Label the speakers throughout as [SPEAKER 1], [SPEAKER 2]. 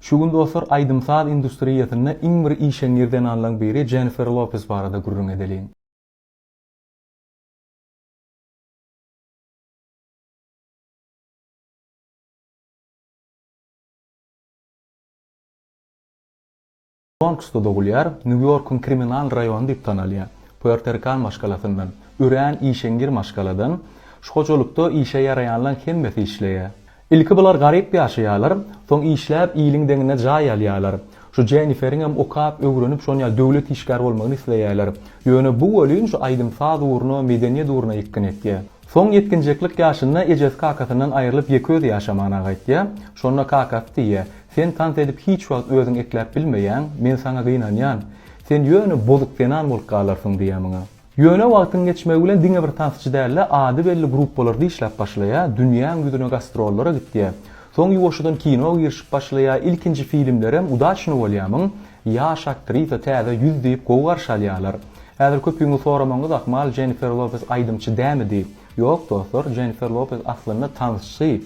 [SPEAKER 1] Şu gün dostlar aýdym-saz industriýasynda iň bir işeňňir zenanlaň biri Jennifer Lopez barada gürrüň edeliň. Bronksda dogulýar, Nýu-Ýorkuň kriminal raýony diýip tanalýar. Puerto-Rikan maşgalasyndan, örän işeňňir maşgaladan. Şu hojalykda işe ýaraýanlaň hemmesi işleýär. Ilki bular garyp ýaşaýarlar, soň işläp iliň deňinde jaý alýarlar. Şu Jenniferiňem okap, öwrenip şonýa döwlet işgäri bolmagyny isleýärler. Ýöne bu welin şu aýdym-saz ugruna, medeniýet ugruna ýykgyn etýär. Soň ýetginjeklik ýaşynda ejesi-kakasyndan aýrylyp ýeke özi ýaşamagyna gaýtýar. Şonda kakasy diýýär, Sen tans edip hiç wagt özüň ekläp bilmeýäň, men saňa gynanýan. Sen ýöne bozuk zenan bolup galarsyň diýýä maňa. Ýöne wagtyň geçmegi bilen diňe bir tansçy däl-de, ady belli gruppalarda işläp başlaýa, dünýäň ýüzüne gastrollara gitýä. Soň ýuwaşjadan kino girişip başlaýa, ilkinji filimlerem udaçno bolýamyň, ýaş aktrisa, täze ýüz diýip gowy garşy alýalar. Häzir köpüňiz soramagyňyz ahmal Jennifer Lopez aýdymçy dämi diýip. Ýok dostlar, Jennifer Lopez aslynda tansçy.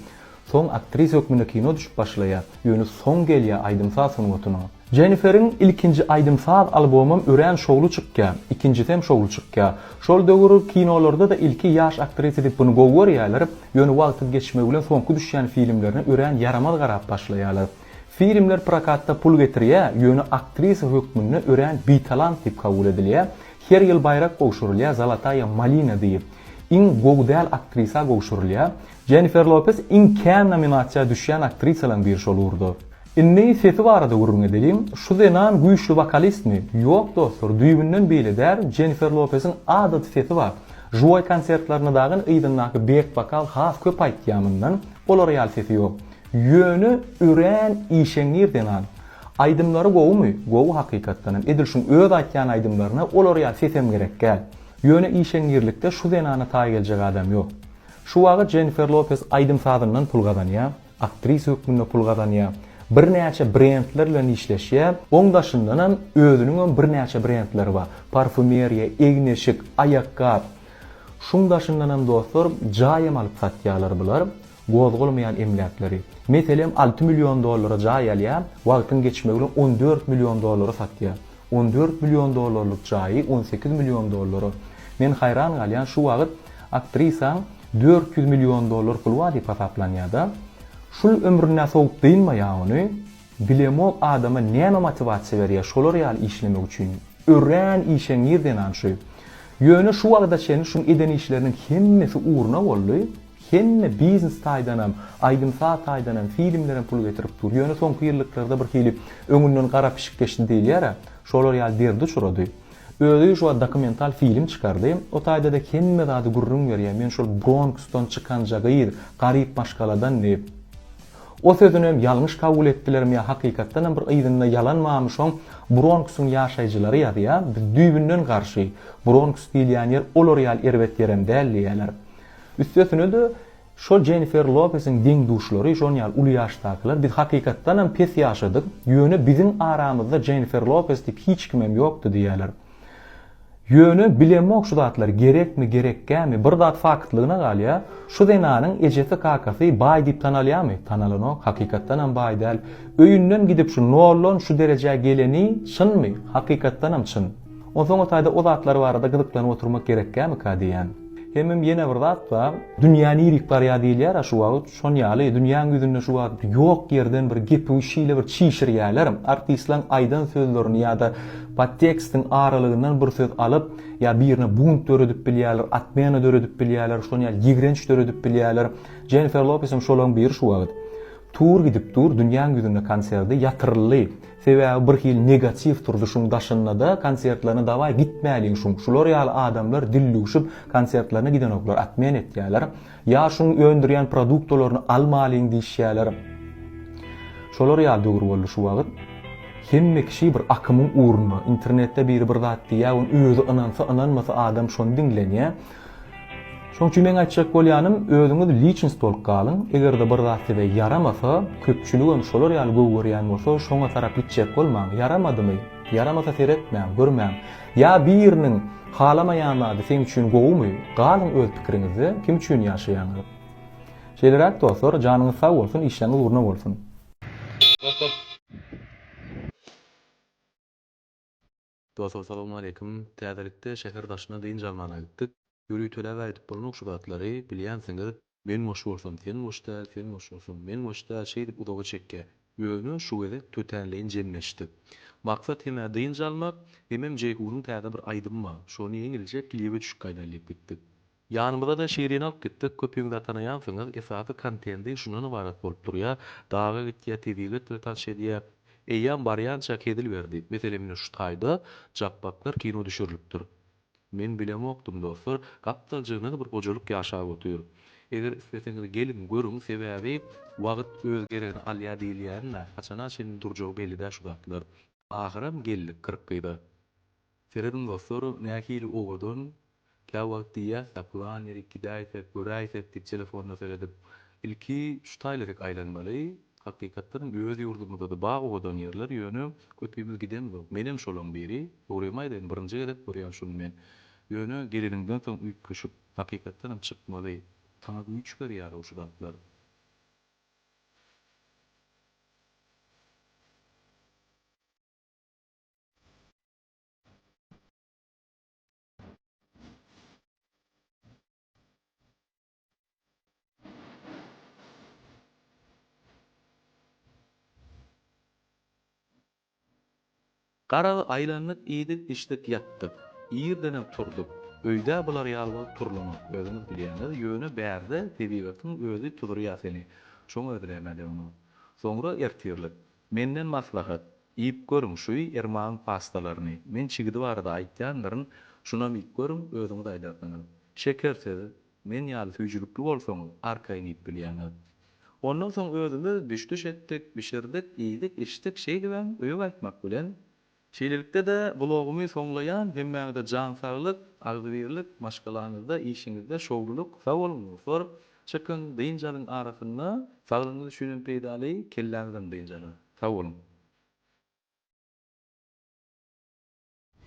[SPEAKER 1] Soň aktrisa hökmünde kino düşüp başlaýar, ýöne soň gelýär aýdym-saz sungatyna. Jeniferiň ilkinji aýdym-saz albomam örän şowly çykýar, ikinjisem şowly çykýar. Şol döwür kinolarda-da ilki ýaş aktrisa diýip buny gowy görýärler, ýöne wagtyň geçmegi bilen soňky düşýän filmlerine örän ýaramaz garap başlaýarlar. Filmler prokatda pul getirýär, ýöne aktrisa hökmünde örän bitalant diýip kabul edilýär. Her ýyl baýrak gowşurylýar, Zalataýa malina diýip. Iň gowy däl aktrisa gowşurylýar. Jennifer Lopes iň kän nominasiýa düşýän aktrisalaryň biri şol ugurda. Indi sesi barada gürrüň edeliň, şu zenan güýçli wokalistmi? Ýok dostlar, düýbünden beýle däl, Jennifer Lopesiň adaty sesi bar. Žiwoý konsertlerinde dagyn yzyndaky bek wokal has köp aýtýar mundan, olar ýaly sesi ýok. Ýöne örän işeňňir zenan. Aýdymlary gowumy? Gowy hakykatdan hem, edil şuň öz aýtýan aýdymlaryna olar ýaly sesem gerekgäl. Ýöne işeňňirlikde şu zenana taý geljek adam ýok. Şu wagyt Jennifer Lopes aýdym-sazyndan pul gazanýar, aktrisa hökmünde pul gazanýar, birnäçe brendler bilen işleşýär, oň daşyndanam özüniň hem birnäçe brendleri bar, parfumeriýa, egin-eşik, aýakgap, şuň daşyndanam dostlar jaý hem alyp satýarlar bular, gozgalmaýan emläkleri. Meselem alty million dollara jaý alýar, wagtyň geçmegi bilen on dört million dollara satýar. On dört million dollarlyk jaýy on sekiz million dollara. Men haýran galýan şu wagyt aktrisaň dört ýüz million dollar puly bar diýip hasaplanýada. Şul ömrüne sowup dynmaýa ony. Bilemok adama näme motiwasiýa berýä şolar ýaly işlemek üçin. Örän işeňňir zenan şu. Ýöne şu wagta çenli şuň eden işleriniň hemmesi urna boldy. Hemme biznes taýdanam, aýdym-saz taýdanam, filmlerem pul getirip dur. Ýöne soňky ýyllyklarda bir hili öňünden gara pişik geçdi diýilýär-ä, şolar ýaly derdi uçrady. Özi şu wagt dokumental film çykardy. O taýda-da hemme zady gürrüň berýär, men şol Bronksdan çykanja gyz, garyp maşgaladan diýip. O sözünem ýalňyş kabul etdilermi ýa hakykatdanam bir yzynda ýalan barmy şoň Bronksyň ýaşaýjylary ýazýar, biz düýbünden garşy, Bronks diýilýän ýer olar ýaly erbet ýerem däl diýýärler. Üstesine-de, şol Jennifer Lopesiň deň-duşlary, şonuň ýaly uly ýaşdakylar, biz hakykatdanam pes ýaşadyk, ýöne biziň aramyzda Jennifer Lopes diýip hiç kimem ýokdy diýýärler. Ýöne, bilemok şu zatlar gerekmi, gerekgämi, bir zat faktlygyna galýa, şu zenanyň ejesi-kakasy baý diýip tanalýamy? Tanalanok, hakykatdanam baý däl. Öýünden gidip şu nollan şu derejä geleni çynmy? Hakykatdanam çyn. Onsoň o taýda o zatlar barada gyzyklanyp oturmak gerekkämika diýýän. Hemem ýene bir zat bar. Dünýä nirik barýar diýilýär-ä şu wagt, şon ýaly dünýäň ýüzünde şu wagt ýok ýerden bir gepi şeýle bir çişirýärler, artistleriň aýdan sözlerini ýa-da podtekstiň aralygyndan bir söz alyp, ýa birine bunt döredip bilýärler, otmena döredip bilýärler, şon ýaly ýigrenç döredip bilýärler. Jennifer Lopesem şolaryň biri şu wagt. Tur gidip dur, dünýäň ýüzünde konserdi ýatyryldy. Sebäbi bir hili negatiw turdy şuň daşyndada konsertlerine dawaý gitmäliň şuň şular ýaly adamlar dillüwşüp konsertlerine gidenoklar atmen etýäler ýa şuň öndürýän produktolaryny almalyň diýişýäler şolar ýaly döwür boldy şu wagyt hemme kişi bir akymyň ugrunda internetde biri bir zat diýýä ony özi ynansa ynanmasa adam şony diňlenýä. Şoň üçin meň aýtjak bolýanym, özüňiz liçnost bolup galyň, eger-de bir zat size ýaramasa, köpçüligem şolar ýaly gowy görýän bolsa, şoňa tarap gitjek bolmaň, ýaramadymy, ýaramasa seretmäň, görmäň. Ýa biriniň halamaýan zady seň üçin gowumy, galyň öz pikiriňizde, kim üçin ýaşaýaňyz. Şeýleräk dostlar, janyňyz sag bolsun, işleňiz gurna bolsun. Dostlar salowmaleýkim. Täzelikde şäher daşyna dynç almana gitdik. Ýörütelap aýdyp bolanok şu zatlary, bilýänsiňiz. Men boş bolsam sen boş däl, sen boş bolsaň men boş däl şeýdip uzaga çekýä. Ýöne şu gezek tötänleýin jemleşdik. Maksat hem-ä dynç almak, hemem Jeýhunyň täze bir aýdymy bar. Şony ýeňilje klibe düşüp gaýdaýyn diýip gitdik. Ýanymyzada şirin alyp gitdik köpüňiz tanaýansyňyz esasy kontendi şundan ybarat bolup durýa daga gitýä tiz ýigit bilen tanş edýä eýýam barýança hezil berdi meselem ine şu taýda japbaklar kino düşürilipdir men bilemokdym dostlar gapdalja nag bir gojalyk ýaşap otyr eger isleseňiz geliň görüň sebäbi wagyt öz geregini alýa diýilýänina haçana çenli durjagy belli dä şu zatlar ahyram geldik kyrk gyza. Serediň dostlar, nähili owadan. Käwagt diýýäs-de, pylan ýerik gidäýsek, göräýsek diýip telefonda seredip, ilki şu taýlaryk aýlanmaly. Hakykatdanam öz ýurdumyzda-da bar owadan ýerler, ýöne köpimiz gidemzok. Menem şolaryň biri. Dogrymy aýdaýyn, birinji gezek görýän şuny men. Ýöne geleniňden soň üýtgeşik. Hakykatdanam çykmaly. Saňa güýç berýär-ow şu zatlar. Garaly aýlandyk iýdik, içdik, ýatdyk. Irdenem turdyk. Öýdä bular ýaly bolup turlanok, özüňiz bilýäňiz, ýöne bärde tebigatyň özi tuzdurýar seni, şoňa ödüleme döndüm. Soňra ertirlik. Menden maslahat, iýip görüň şu irmagyň pastalaryny, men çigidi barada aýtýandyryn, şunam iýip görüň, özüňiz aýdarsyňyz. Şeker siz, men ýaly süýjülikli bolsaňyz, arkaýyn iýip bilýäňiz. Ondan soň özümiz düş-düş etdik, bişirdik, iýdik, içdik, şeýdibem, öýe gaýtmak bilen, Şeýlelikde-de blogumy soňlaýan, hemmäňize jan saglyk, agzybirlik, maşgalaňyzda, işiňizde şowlulyk, sag boluň dostlar, çykyň, dynç alyň arasynda, saglygyňyz üçinem peýdaly, kelläňizem dynç alyň. Sag boluň.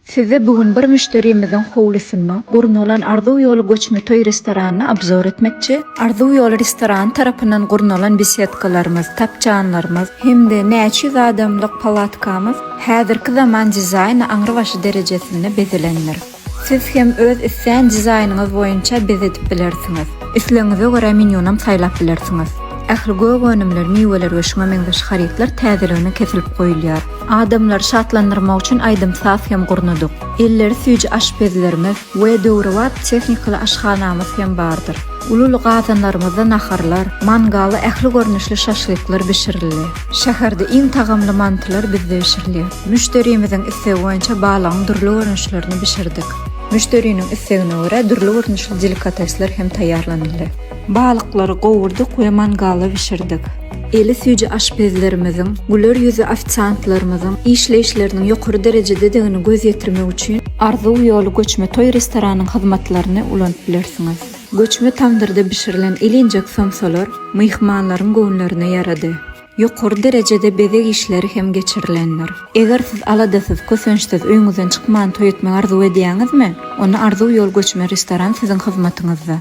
[SPEAKER 2] Size bu gün bir müşderimiziň howlusynda gurnalan Arzuw ýoly göçme toý restoranyny obzor etmekçi. Arzuw ýoly restorany tarapyndan gurnalan besedkalarymyz, tapjanlarymyz hem-de näçe ýüz adamlyk palatkamyz Häzirki zaman dizaýny aňrybaşy derejesinde bezelendir. Siz hem öz islän dizaýnyňyz boýunça bezedip bilersiňiz. Islegiňize görä menýunam saýlap bilersiňiz. Ähli gök önümler, miweler we şuňa meňzeş harytlar täzeligine kesilip goýulýar. Adamlary şatlandyrmak üçin aýdym-saz hem gurnadyk. Elleri süýji aşpezlerimiz, we döwrebap tehnikaly aşhanamyz hem bardyr. Uly-uly gazanlarymyzda naharlar, mangalda ähli görnüşli şaşlyklar bişirildi. Şäherde iň tagamly mantylar bizde bişirilýär. Müşderimiziň islegi boýunça balygyň dürli görnüşlerini bişirdik. Müşderiniň islegine görä dürli görnüşli delikatesler hem taýýarlanyldy. Balyklary gowurdyk we mangalda bişirdik. Eli süýji aşpezlerimiziň, güler ýüzli ofisiantlarymyzyň işleýişleriniň ýokary derejededigini göz ýetirmek üçin Arzuw ýoly göçme toý restoranynyň hyzmatlaryny ulanyp bilersiňiz. Göçme tamdyrda bişirilen ilinjek somsalar myhmanlaryň göwünlerine ýarady. Ýokary derejede bezeg işleri hem geçirilendir. Eger siz aladasyz, kösençsiz, öýüňizden çykman toý etmegi arzuw edýäňizmi? Onda Arzuw ýoly göçme restoran siziň hyzmatyňyzda.